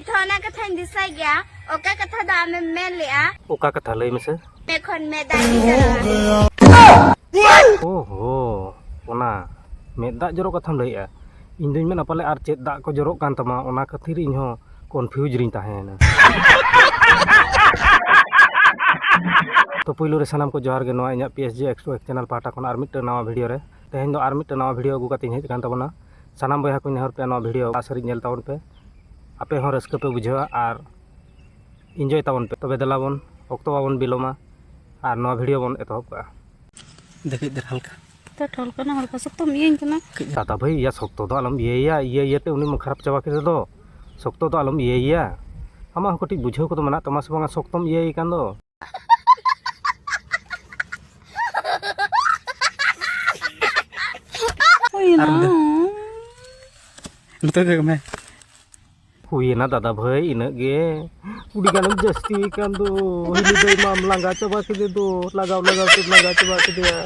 ᱚᱱᱟ ᱠᱟᱛᱷᱟᱧ ᱫᱤᱥᱟᱹᱭ ᱜᱮᱭᱟ ᱚᱠᱟ ᱠᱟᱛᱷᱟ ᱫᱚ ᱟᱢᱮᱢ ᱢᱮᱱ ᱞᱮᱜᱼᱟ ᱚᱠᱟ ᱠᱟᱛᱷᱟ ᱞᱟᱹᱭ ᱢᱮᱥᱮ ᱮᱠᱷᱚᱱ ᱢᱮ ᱫᱟᱜ ᱚ ᱦᱚ ᱚᱱᱟ ᱢᱮᱫ ᱫᱟᱜ ᱡᱚᱨᱚᱜ ᱠᱟᱛᱷᱟᱢ ᱞᱟᱹᱭᱮᱜᱼᱟ ᱤᱧ ᱫᱩᱧ ᱢᱮᱱᱟ ᱯᱟᱞᱮ ᱟᱨ ᱪᱮᱫ ᱫᱟᱜ ᱠᱚ ᱡᱚᱨᱚᱜ ᱠᱟᱱ ᱛᱟᱢᱟ ᱚᱱᱟ ᱠᱷᱟᱹᱛᱤᱨ ᱤᱧ ᱦᱚᱸ ᱠᱚᱱᱯᱷᱤᱭᱩᱡᱽ ᱨᱤᱧ ᱛᱟᱦᱮᱸᱭᱮᱱᱟ ᱛᱚ ᱯᱩᱭᱞᱩ ᱨᱮ ᱥᱟᱱᱟᱢ ᱠᱚ ᱡᱚᱦᱟᱨ ᱜᱮ ᱱᱚᱣᱟ ᱤᱧᱟᱹᱜ ᱯᱤ ᱮᱥ ᱡᱤ ᱮᱠᱥᱴᱨᱳ ᱮᱠ ᱪᱮᱱᱮᱞ ᱯᱟᱦᱴᱟ ᱠᱷᱚᱱ ᱟᱨ ᱢᱤᱫᱴᱟᱝ ᱱᱟᱣᱟ ᱵᱷᱤᱰᱤᱭᱳ ᱨᱮ ᱛᱮᱦᱮᱧ ᱫᱚ ᱟᱨ ᱢᱤᱫᱴᱟᱝ ᱱᱟᱣᱟ ᱵᱷᱤᱰᱤᱭᱳ ᱟᱹᱜᱩ ᱠᱟᱛᱮᱧ ᱦᱮᱡ ᱟᱠᱟᱱ ᱛᱟᱵᱚᱱᱟ ᱥᱟᱱᱟᱢ ᱵᱚᱭᱦᱟ ᱠᱚᱧ ᱱᱮᱦᱚᱨ ᱯᱮᱭᱟ ᱱᱚᱣᱟ ᱵᱷᱤᱰᱤᱭᱳ ᱞᱟᱥᱟᱨᱤᱡ ᱧᱮᱞ ᱛᱟᱵᱚᱱ ᱯᱮ ᱟᱯᱮ ᱦᱚᱸ ᱨᱟᱹᱥᱠᱟᱹ ᱯᱮ ᱵᱩᱡᱷᱟᱹᱣᱟ ᱟᱨ ᱤᱱᱡᱚᱭ ᱛᱟᱵᱚᱱ ᱯᱮ ᱛᱚᱵᱮ ᱫᱮᱞᱟ ᱵᱚᱱ ᱚᱠᱛᱚ ᱵᱟᱵᱚᱱ ᱵᱤᱞᱚᱢᱟ ᱟᱨ ᱱᱚᱣᱟ ᱵᱷᱤᱰᱤᱭᱳ ᱵᱚᱱ ᱮᱛᱚᱦᱚᱵ ᱠᱟᱜᱼᱟ ᱫᱮᱠᱷᱤᱡ ᱫᱮᱨ ᱦᱟᱞᱠᱟ ᱛᱚ ᱴᱷᱚᱞ ᱠᱟᱱᱟ ᱦᱟᱞᱠᱟ ᱥᱚᱠᱛᱚᱢ ᱤᱭᱟᱹᱧ ᱠᱟᱱᱟ ᱫᱟᱫᱟ ᱵᱷᱟᱹᱭ ᱤᱭᱟ ᱥᱚᱠᱛᱚ ᱫᱚ ᱟᱞᱚᱢ ᱤᱭᱟᱹᱭᱟ ᱤᱭᱟᱹ ᱤᱭᱟᱹᱛᱮ ᱩᱱᱤ ᱢᱟ ᱠᱷᱟᱨᱟᱯ ᱪᱟᱵᱟ ᱠᱮᱫᱮ ᱫᱚ ᱥᱚᱠᱛᱚ ᱫᱚ ᱟᱞᱚᱢ ᱤᱭᱟᱹᱭᱟ ᱟᱢᱟᱜ ᱦᱚᱸ ᱠᱟᱹᱴᱤᱡ ᱵᱩᱡᱷᱟᱹᱣ ᱠᱚᱫᱚ ᱢᱮᱱᱟᱜ ᱛᱟᱢᱟ ᱥᱮ ᱵᱟᱝᱟ ᱥᱚᱠᱛᱚᱢ ᱤᱭᱟᱹᱭᱮ ᱠᱟᱱ ᱫᱚ ᱦᱩᱭᱮᱱᱟ ᱫᱟᱫᱟ ᱵᱷᱟᱹᱭ ᱤᱱᱟᱹᱜ ᱜᱮ ᱠᱩᱲᱤ ᱜᱟᱱᱮᱢ ᱡᱟᱹᱥᱛᱤ ᱠᱟᱱ ᱫᱚ ᱦᱤᱞᱤ ᱫᱟᱹᱭ ᱢᱟᱢ ᱞᱟᱸᱜᱟ ᱪᱟᱵᱟ ᱠᱮᱫᱮ ᱫᱚ ᱞᱟᱜᱟᱣ ᱞᱟᱜᱟᱣ ᱛᱮᱢ ᱞᱟᱸᱜᱟ ᱪᱟᱵᱟ ᱠᱮᱫᱮᱭᱟ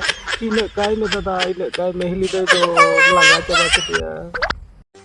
ᱤᱱᱟᱹᱜ ᱠᱟᱭ ᱢᱮ ᱫᱟᱫᱟ ᱤᱱᱟᱹᱜ ᱠᱟᱭ ᱢᱮ ᱦᱤᱞᱤ ᱫᱟᱹᱭ ᱫᱚ ᱞᱟᱸᱜᱟ ᱪᱟᱵᱟ ᱠᱮᱫᱮᱭᱟ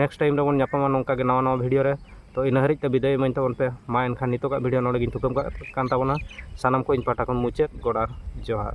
ᱱᱮᱠᱥᱴ ᱴᱟᱭᱤᱢ ᱨᱮᱵᱚᱱ ᱧᱟᱯᱟᱢᱟ ᱱᱚᱝᱠᱟ ᱜᱮ ᱱᱟᱣᱟ ᱱᱟᱣᱟ ᱵᱷᱤᱰᱤᱭᱳ ᱨᱮ ᱛᱚ ᱤᱱᱟᱹ ᱦᱟᱹᱨᱤᱡ ᱛᱮ ᱵᱤᱫᱟᱹᱭ ᱤᱢᱟᱹᱧ ᱛᱟᱵᱚᱱ ᱯᱮ ᱢᱟ ᱮᱱᱠᱷᱟᱱ ᱱᱤᱛᱚᱜᱟᱜ ᱵᱷᱤᱰᱤᱭᱳ ᱱᱚᱰᱮ ᱜᱤᱧ ᱛᱷᱩᱠᱟᱹᱢ ᱠᱟᱜ ᱠᱟᱱ ᱛᱟᱵᱚᱱᱟ ᱥᱟᱱᱟᱢ ᱠᱚ ᱤᱧ ᱯᱟᱦᱴᱟ ᱠᱷᱚᱱ ᱢᱩᱪᱟᱹᱫ ᱜᱚᱰ ᱟᱨ ᱡᱚᱦᱟᱨ